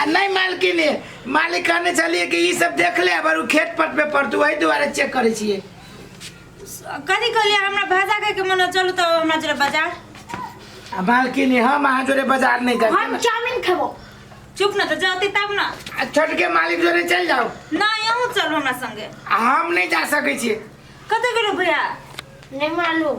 आ नहीं मालकिन ये मालिक कहने चलिए कि ई सब देख ले अबर उ खेत पट पे पड़तू वही दुआरे चेक करे छिए कथी कहलियै हमरा भाजा खाय के मन चलू तऽ हमरा जरा बाजार आ मालकिन ये हम अहाँ जोरे बाजार नहीं हम करते चाउमिन खेबो चुप न तऽ जाती तब न आ छोटके मालिक जोरे चल जाओ नहि अहूँ चलू हमरा संगे आ हम नहीं जा सके छिए कतऽ गेलू भैया नहीं मालूम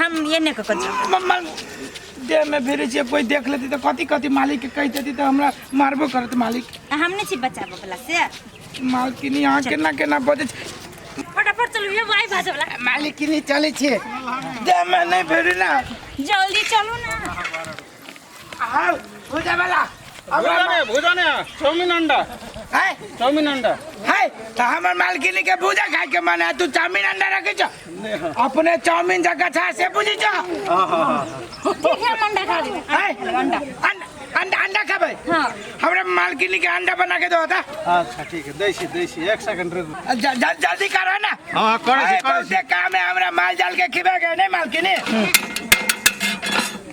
हम ये नहीं ककर छी मम्मा देह में फिरे छियै कोई देख लेती तो कथी कथी मालिक के कह देती तो हमरा मारबो करत मालिक हम नहीं छी बचाबे वाला से मालकिनी अहाँ केना केना बजे छी फटाफट चलू ये वाई भाजे वाला मालिक किनी चले छियै देह में नहीं फिरे ना जल्दी चलू ना हमर मालकिनी के भूजा खाए के मन है तू चाउमीन अंडा रखे छ अपने चाउमीन जगह था से बुझी छ ठीक है अंडा खा ले अंडा अंडा अंडा खाबे हां हमरा मालकिनी के अंडा बना के दो होता अच्छा ठीक है देसी देसी एक सेकंड रुक जल्दी करो ना हां कर से कर से काम है हमरा माल जाल के खिबे के नहीं मालकिनी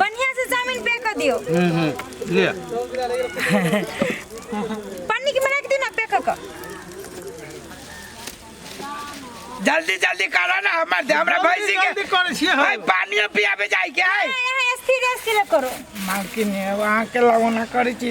बढ़िया से चाउमीन पे कर दियो हम्म हम्म ले पन्नी के मना के दी ना पे कर कर। जल्दी जल्दी करा ना हमर दे हमरा भैंसी के जल्दी करै छियै भाई हम। पानी पियाबे जाई के है यहाँ यहाँ स्थिर स्थिर करो मालकिन अब अहाँके लगौना करै छी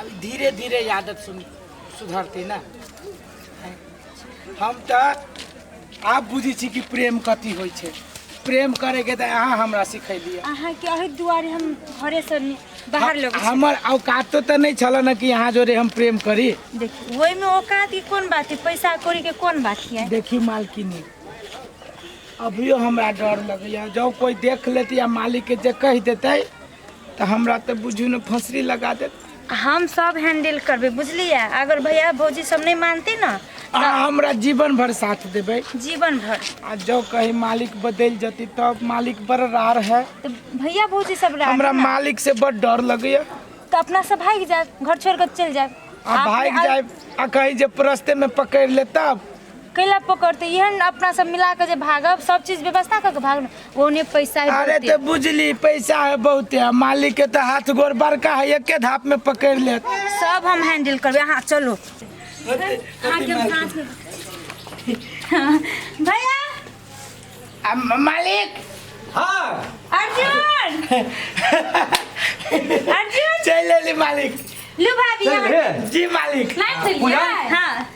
अब धीरे धीरे ई आदत सुन सुधरतै ने हैं? हम तऽ आब बुझै छी कि प्रेम कथी होइ छै प्रेम करैके तऽ अहाँ हमरा सिखेलियै अहाँ के अहि दुआरे हम घरे से नि- बाहर लोग हमर औकातो तऽ नहि छल ने कि अहाँ जोरे हम प्रेम करी देखी ओहि में औकात की कोन बात है पैसा कौड़ी के कोन बात है देखी मालकिनी अभियो हमरा डर लगैया जब कोई देख लेती या मालिक के जे कह देते तऽ हमरा तऽ बुझू ने फसरी लगा देत हम सब हैंडल करबै बुझलियै अगर भैया भौजी सब नहि मानती ने अहाँ हमरा जीवन भर साथ देबै जीवन भर आ जब कहीं मालिक बदलि जती तब मालिक बड़ रार है तऽ भैया भौजी सब रहा हमरा मालिक से बड़ डर लगैया तऽ अपना सब भागि जायब घर छोड़ कऽ चलि जायब आ भागि जायब आ कहीं जे रस्ते में पकड़ि ले तब कैला पकड़तै इहे ने अपना सब मिला कऽ जे भागब सब चीज व्यवस्था कऽ के भागब ने ओने पैसा है अरे बहुते। तो बुझली पैसा है बहुते आ मालिक के तो हाथ गोर बड़का है एके धाप में पकड़ लेत सब हम हैंडल करबे अहाँ चलो अहाँ के हम हाथ में- हाँ, भैया आ म- मालिक हाँ अर्जुन अर्जुन चल लेली मालिक लू भाभी चल यहाँ रे। जी मालिक लाइन चलिए पूजा? हाँ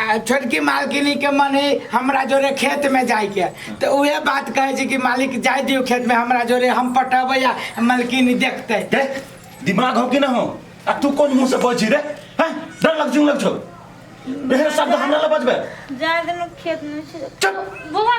आ छोटकी मालकिनी के मन ही हमरा जोरे खेत में जाए के तो उहे बात कहे छी कि मालिक जाए दियो खेत में हमरा जोरे हम पटबै आ मालकिनी देखते रे दिमाग हो कि ना हो आ तू कौन मुंह से बजी रे हैं डर लग जुंग लग छो एहन शब्द हमरा ला बजबे जाए दिन खेत में से चुप बुआ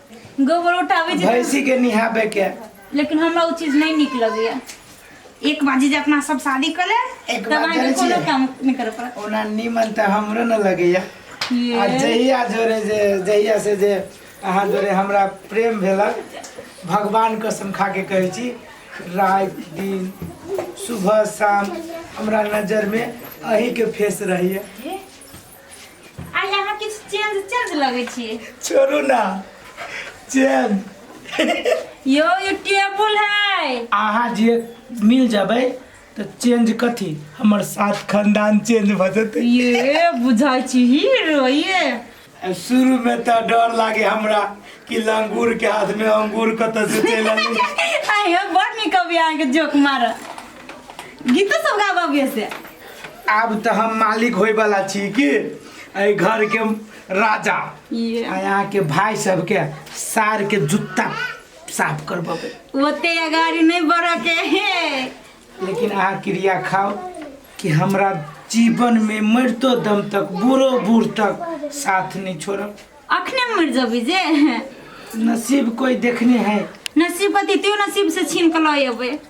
गोबर उठाबै छै भैंसी के निहाबे के लेकिन हमरा ओ चीज नहीं निक लगैया एक बाजी जे अपना सब शादी कर ले एक तब बात अहाँके जानै कोनो छियै? काम नहीं करऽ पड़त ओना नीमन तऽ हमरो न लगैया आ ये। जहिया जोरे जे जहिया से जे अहाँ जोरे हमरा प्रेम भेला भगवान कसम खा के कहै छी रात दिन सुबह शाम हमरा नजर में अहीं के फेस रहैया आ यहाँ किछ चेंज चेंज लगे छिए छोड़ू ना चैन यो ये टेबुल है अहाँ जे मिल जाबै तऽ चेंज कथी हमर साथ खानदान चेंज भऽ जेतै ये बुझाई छी हीरो ये शुरू में तऽ डर लागे हमरा कि लंगूर के हाथ में अंगूर कतऽ से चलि आबै आयो बड़ नीक अभी अहाँके जोक मारऽ गीतो सब गाबऽ अबियै से आब तऽ हम मालिक होय वाला छी की एहि घर के राजा ये आ यहाँ के भाई सबके सार के जूता साफ करबेबै ओते अगाड़ी नहीं बढ़ऽ के हे लेकिन अहाँ क्रिया खाओ कि हमरा जीवन में मरतो दम तक बूढ़ो बूढ़ तक साथ नहीं छोड़ब अखने मर जबी जे नसीब कोई देखने है नसीब पति त्यो नसीब से छीन के लऽ अबै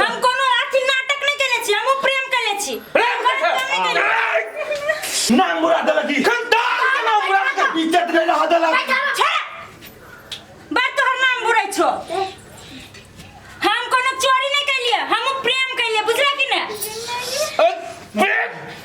हम कोनो अथी नाटक नहीं केने छी हमहु प्रेम केने छी प्रेम के छै? ना मुरा देलक ई खंडार के ना मुरा के इज्जत नहीं रह देलक छे बात तोहर नाम बुरै छो हम कोनो चोरी नहीं केलिए हमहु प्रेम केलिए बुझला कि ने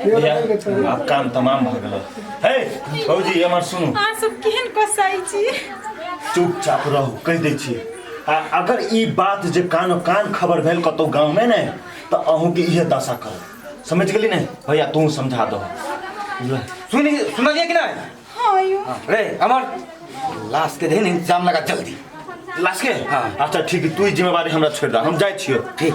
आब काम तमाम भऽ गेल हे भौजी हमर सुनू अहाँ सब केहन कसाई छी चुपचाप रहू कहि दै छी आ अगर ई बात जे कानो कान खबर भेल कतहु गाँवमे ने तऽ अहूँके इहे दशा करब समझ गेली ने भैया तू समझा दो सुनी सुनलिए कि नहीं हाँ यो रे अमर लाश के देहन इंतजाम लगा जल्दी लाश के हाँ। अच्छा ठीक है तू ही जिम्मेवारी हमरा छोड़ दे हम जाए छियो ठीक